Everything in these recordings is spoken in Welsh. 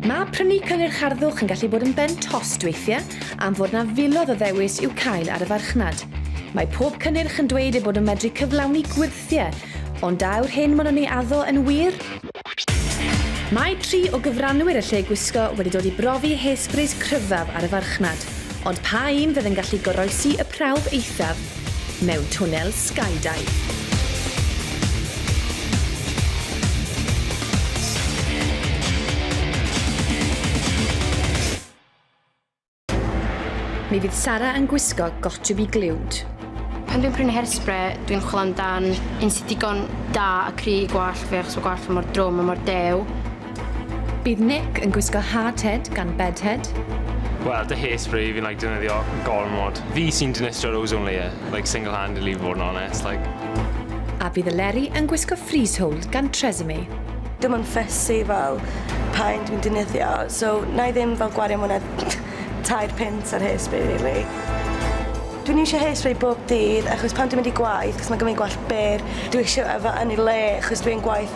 Mae prynu cynnyrch harddwch yn gallu bod yn ben tost weithiau am fod 'na filoedd o ddewis i'w cael ar y farchnad. Mae pob cynnyrch yn dweud eu bod nhw'n medru cyflawni gwyrthiau, ond a yw'r hyn maen nhw'n ei addo yn wir? Mae tri o gyfranwyr y lle gwisgo wedi dod i brofi hairspres cryfaf ar y farchnad, ond pa un fydd yn gallu goroesi y prawf eithaf? mewn twnnel skydive. Mi fydd Sara yn gwisgo Got To Be Glued. Pan dwi'n prynu hairspray, dwi'n chwilio amdan un sydd digon da a cry i gwallt fi achos mae gwallt fi mor drwm a mor dew. Bydd Nick yn gwisgo Hard Head gan Bedhead. Wel, dy hairspray, fi'n like defnyddio gormod. Fi sy'n dinistrio'r ozone layer, like single-handedly, fod yn honest, like. A bydd y Leri yn gwisgo Freezehold gan Tresemme. Dim ond fussy fel paent dwi'n dinyddio, so na i ddim fel gwario mwynhau tair pint ar hairspray, really. Dwi'n eisiau hairspray bob dydd, achos pan dwi'n mynd i gwaith, cos mae gymryd gwallt byr, dwi eisiau efo yn ei le, achos dwi'n gwaith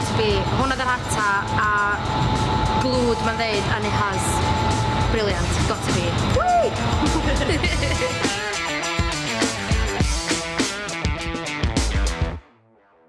To be. Hwn oedd yr ata a glwd mae'n ddeud and it has. Brilliant. Got to be. Whee!